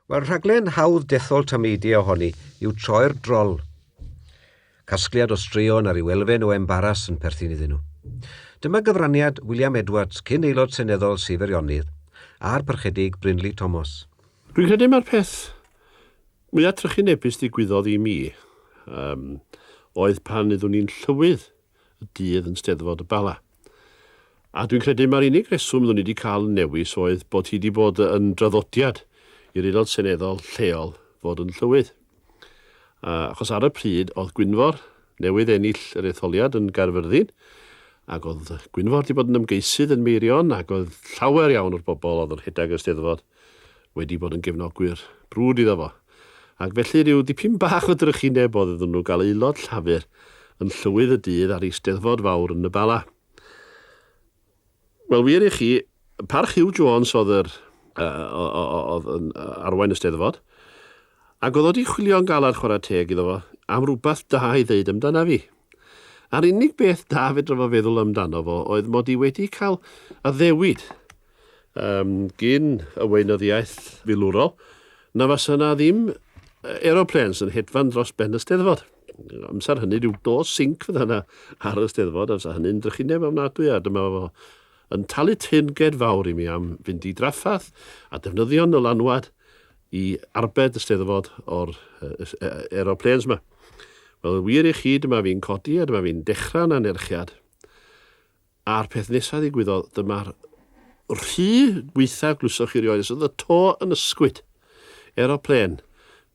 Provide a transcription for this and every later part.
Wel, rhaglen hawdd dethol tameidiau ohoni yw Troi'r Drol. Casgliad o straeon a rhyw elfen o embaras yn perthyn iddyn nhw. Dyma gyfraniad William Edwards, cyn Aelod Seneddol Sir Feirionnydd, a'r Parchedig Brynleu Tomos. Dwi'n credu mai'r peth mwyaf trychinebus ddigwyddodd i mi um, oedd pan iddwn ni'n Llywydd y dydd yn Steddfod y Bala. A dwi'n credu mai'r unig reswm oeddwn i wedi cael newis oedd bod hi wedi bod yn draddodiad i'r Aelod Seneddol lleol fod yn Llywydd. A, achos ar y pryd oedd Gwynfor newydd ennill yr etholiad yn Gaerfyrddin, ac oedd Gwynfor wedi bod yn ymgeisydd yn Meirion, ac oedd llawer iawn o'r bobl oedd yn rhedeg y Steddfod, wedi bod yn gefnogwyr brwd iddo fo, ac felly rhyw dipyn bach o drychineb oedd iddyn nhw gael aelod Llafur yn Llywydd y Dydd ar Eisteddfod fawr yn y Bala. Wel, wir i chi, parch Huw Jones oedd yr oedd yn arwain y Steddfod, ac oedd o wedi chwilio'n galad chwarae teg iddo fo am rhywbeth da i ddeud amdana fi. A'r unig beth da fedra fo feddwl amdano fo oedd mod i wedi cael addewid Yym, gyn y weinyddiaeth filwrol, na fasa 'na ddim aeroplanes yn hedfan dros ben y Steddfod. Amser hynny, rhyw do sinc fydda 'na ar y Steddfod, amser hynny'n drychineb ofnadwy, a dyma fo yn talu teyrnged fawr i mi am fynd i draffath a defnyddio nylanwad i arbed y Steddfod o'r aeroplanes 'ma. Wel, wir i chi, dyma fi'n codi a dyma fi'n dechrau'n anerchiad. A'r peth nesa ddigwyddodd, dyma'r rhy gwaetha glwysoch chi rioed, os oedd y to yn ysgwyd. Aeroplên,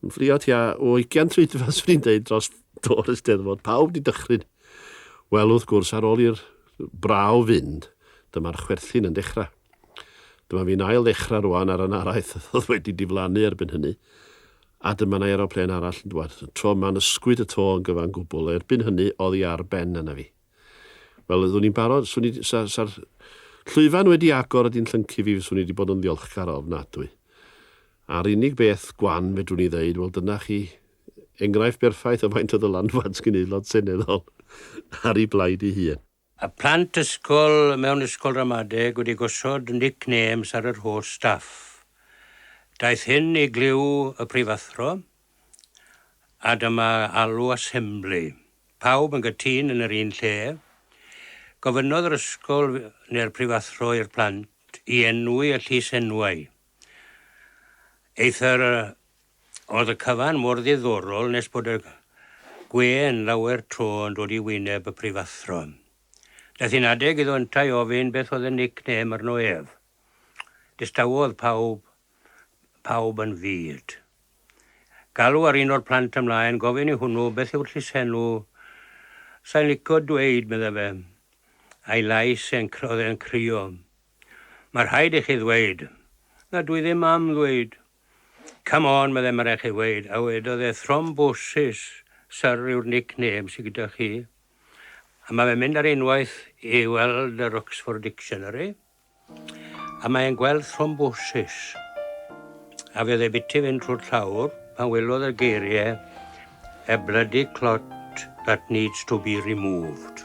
yn fflio tua o 20 troedfedd, swn i'n deud, dros do'r Eisteddfod. Pawb di dychryn. Wel, wrth gwrs, ar ôl i'r braw fynd, dyma'r chwerthin yn dechrau. Dyma fi'n ail ddechrau rwan ar y naraith oedd wedi diflannu erbyn hynny. A dyma na aeroplên arall yn dwad. Tro yma'n ysgwyd y to yn gyfan gwbl. Erbyn hynny, oedd i ar ben yna fi. Wel, oeddwn i'n barod, swn i, sa, sa'r llwyfan wedi agor a di'n llyncu fi, fyswn i wedi bod yn ddiolchgar o ofnadwy. A'r unig beth gwan fedrwn i ddeud, wel dyna chi enghraifft berffaith o faint o ddylanwad sgyn Aelod Seneddol ar ei blaid ei hun. A plant ysgol mewn ysgol ramadeg wedi gosod nick names ar yr holl staff. Daeth hyn i glyw y prifathro, a dyma alw asembli. Pawb yn gytûn yn yr un lle. Gofynnodd yr ysgol neu'r prifathro i'r plant i enwi y llysenwau. Eithr oedd y cyfan mor ddiddorol nes bod y gwên lawer tro yn dod i wyneb y prifathro. Daeth hi'n adeg iddo yntau ofyn beth oedd y nickname arno ef. Distawodd pawb, pawb yn fud. Galw ar un o'r plant ymlaen, gofyn i hwnnw, beth yw'r llysenw? Sai'n licio dweud, medda fe. A'i lais e'n, oedd e'n crio. Mae rhaid i chi ddweud. Na, dwi ddim am ddweud. Come on, medda, mae rhaid i chi ddweud. A wedodd e, Thrombosis, Sir, yw'r nickname sy gyda chi. A mae fe'n mynd ar unwaith i weld yr Oxford Dictionary. A mae e'n gweld thrombosis. A fe ddebyti fynd trwy'r llawr pan welodd y geiriau A bloody clot that needs to be removed.